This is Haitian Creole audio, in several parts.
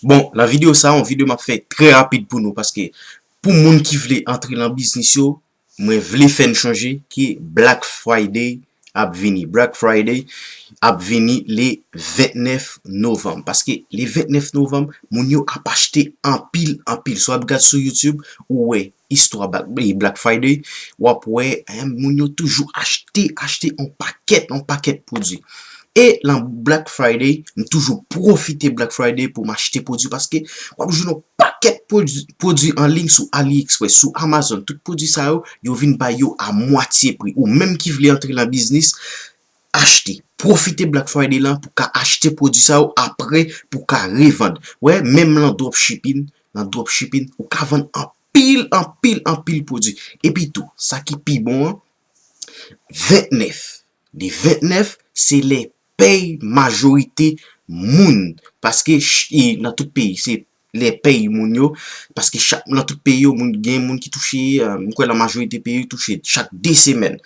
Bon, nan video sa, yon video map fè trè rapid pou nou, paske pou moun ki vle antre nan biznis yo, mwen vle fè n chonje ke Black Friday ap vini. Black Friday ap vini le 29 Novanm. Paske le 29 Novanm, moun yo ap achte anpil, anpil. Si w ap gad sou YouTube, ou wè istwa Black Friday, w ap wè moun yo toujou achte, achte yon pakèt, yon pakèt pwodwi. E lan Black Friday, m toujou pwofite Black Friday pou m achte pwodwi paske w ap jwenn yon pakèt pwodwi an liy sou AliExpress, sou Amazon, tout pwodwi sa yo, yo vin bay yo a mwatye pri. Ou menm ki vle antre lan biznis, achte. Pwofite Black Friday lan pou ka achte pwodwi sa yo apre pou w ka revand. Wè, menm lan dropshipping, lan dropshipping, ou ka vann anpil, anpil, anpil pwodwi. Epi tou, sa ki pi bon an, 29, le 29, se lè pèy majorite moun, paske nan tout peyi, se lè pèy moun yo, paske chak nan tout peyi yo moun gen moun ki touche, m kwè nan majorite peyi touche chak 2 semèn.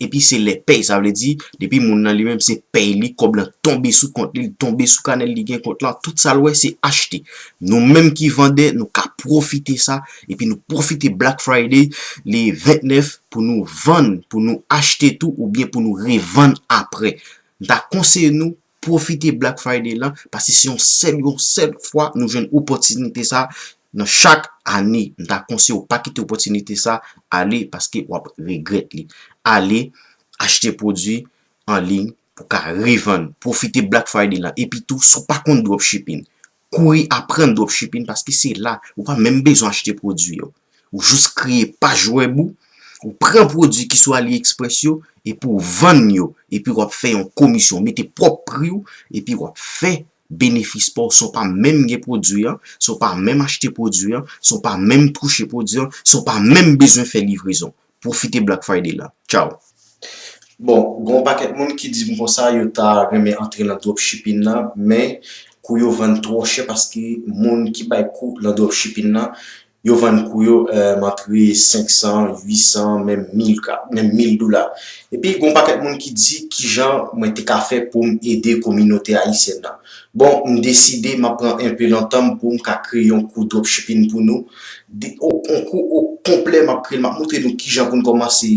Epi se lè pèy, sa vle di, depi moun nan li menm se pèy li, kòb lan tonbe sou kont li, li tonbe sou kanè l, li gen kont lan, tout sa l wè se achte. Nou menm ki vandè, nou ka pwofite sa, epi nou pwofite Black Friday le 29 pou nou vann, pou nou achte tou, oubyen pou nou revann aprè. M ta konseye nou, Pwofite Black Friday lan pase se yon sèl yon sèl fwa nou jwenn opòtinite sa nan chak ane. M ta konseye w pa kite opòtinite sa ale paske w ap regrèt li. Ale achte pwodui anliy pou ka revann. Pwofite Black Friday lan. Epitou si w pa konn dropshipping, Kouri aprann dropshipping paske se la ou pa menm bezwen achte pwodwi yo. Ou jis kreye paj web ou, ou pran pwodwi ki sou AliExpress yo epi w vann yo epi wap fè yon komisyon. Ou mete pwòp pri w epi wap fè benefis pa w san w pa menm gen pwodwi an, san w pa menm achte pwodwi an, san w pa menm touche pwodwi an, san w pa menm bezwen fè livrezon. Pwofite Black Friday la. Tchaw! Bon, gen yon pakèt moun ki di m konsa yo ta renmen antre nan dropshipping nan, men kou yo vann twò chè paske moun ki bay kou nan dropshipping nan, yo vann kou yo antre 500, 800, menm 1000 ka, menm 1000 dola. Epi gen yon pakèt moun ki di kijan mwen te ka fè pou m ede kominote ayisyèn nan. Bon m deside map pran enpe nan tanm poum ka kreye yon kou dropshipping pou nou, yon kou o konplè map kreyel map montre nou kijan poun kòmanse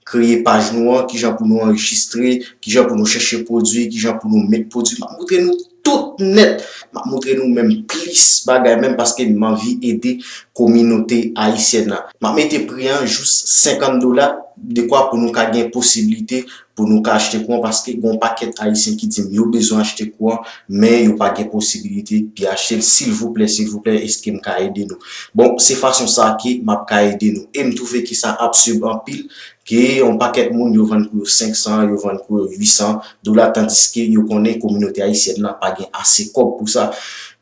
kreye paj nou an, kijan pou nou anrejistre, kijan pou nou chèche pwodwi, kijan pou nou met pwodwi, map montre nou tout nèt, map montre nou menm plis bagay menm paske m anvi ede kominote ayisyèn nan. Map mete pri an jous 50 dola dekwa pou nou ka gen posiblite pou nou ka achte kouran paske gon pakèt ayisyen ki dim yo bezwen achte kouran men yo pa gen posibilite pi achtel silvouplè silvouplè eskem ka ede nou bon se fason sa ke map ka ede nou em twouve ke sa absurb anpil ke yon pakèt moun yo vann pou yo 500 yo vann pou yo 800 dola tandiske yo konnen kominote ayisyèn nan pa gen ase kòb pou sa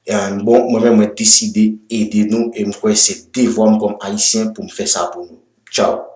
en bon mwen menm mwen deside ede nou em kwè se devwam kòm ayisyen poum fè sa pou nou tchao.